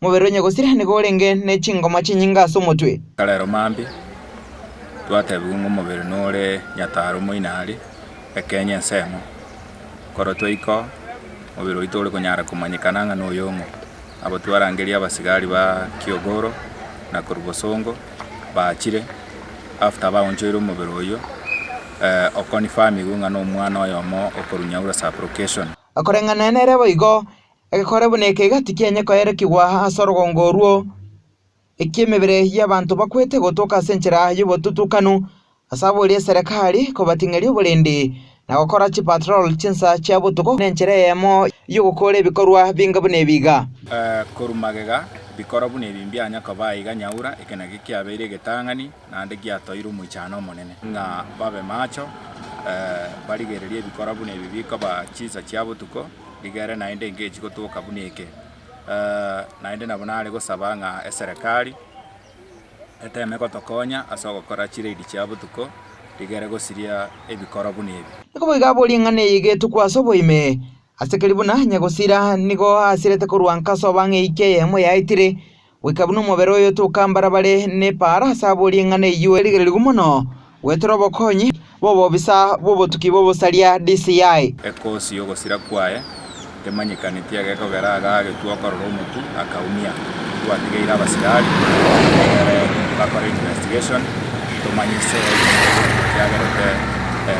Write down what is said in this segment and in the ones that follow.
Mobere onye gosira nigo orenge ne chingoma chinyinga ase omotwe. Karero mambi, twatebiwa ng'a omobere nore nyataro omoina are, ekenye ensemo. Nkorotwa iko, omobere oito ore konyara komanyekana ng'a noyong'o. Abwo twarangeria abasigari ba Kiogoro na korwa Bosongo baachire after baonchoire omobere oyio o confirmigwa ng'a nomwana oyomo okorwa Nyaura sub-location. Akoreng'ana nere boigo, Egekore buna eke iga tikianye koerekigwa ase orogongo orwo, eki'emebere y'abanto bakwete gotoka ase enchera y'obotutukanu, ase abwo eria eserekari ekobating'eria oborindi na gokora chipatrol chinsa chia botuko na enchera eyemo y'ogokoora ebikorwa binga buna ebi iga. Korwa magega, bikorwa buna ebi mbianya koba aiga nyaura, eke nakio kiabeire egetang'ani naende giatoire omoichano omonene, ng'a babe macho, barigererie ebikora buna ebi bikoba chinsa chia botuko, rigere naende engechi gotoka buna eke. Naende nabo nare gosaba ng'a eserekari eteme gotokonya ase ogokora chiraidi chia botuko, rigere gosiria ebikoro buna ebi. Iko boigo abwo ring'ana eye egetokwa ase oboime, ase keri buna nyagosira nigo asirete korwa nkaso bang'e eike eyemo yaetire, Goika buna omobere oyo tokambara bare nepaara ase abwo ring'ana eyio erigererigwe mono gweterwa obokonyi bw'obobisa bw'obotuki bw'obosaria, DCI. Ekoosi y'ogosira kwaye temanyekaneti egekogera agagetwa okorora omotu akaumia. Twatigeire abasirari egere bakore investigation tomanye ase omotu ekiagerete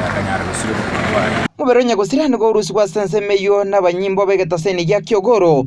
akanyara gosira obotuki bwaye. Mobere o nyagosira nigo orusigwe ase ensemo eyio nabanyimbo b'egetaseni gia Kiogoro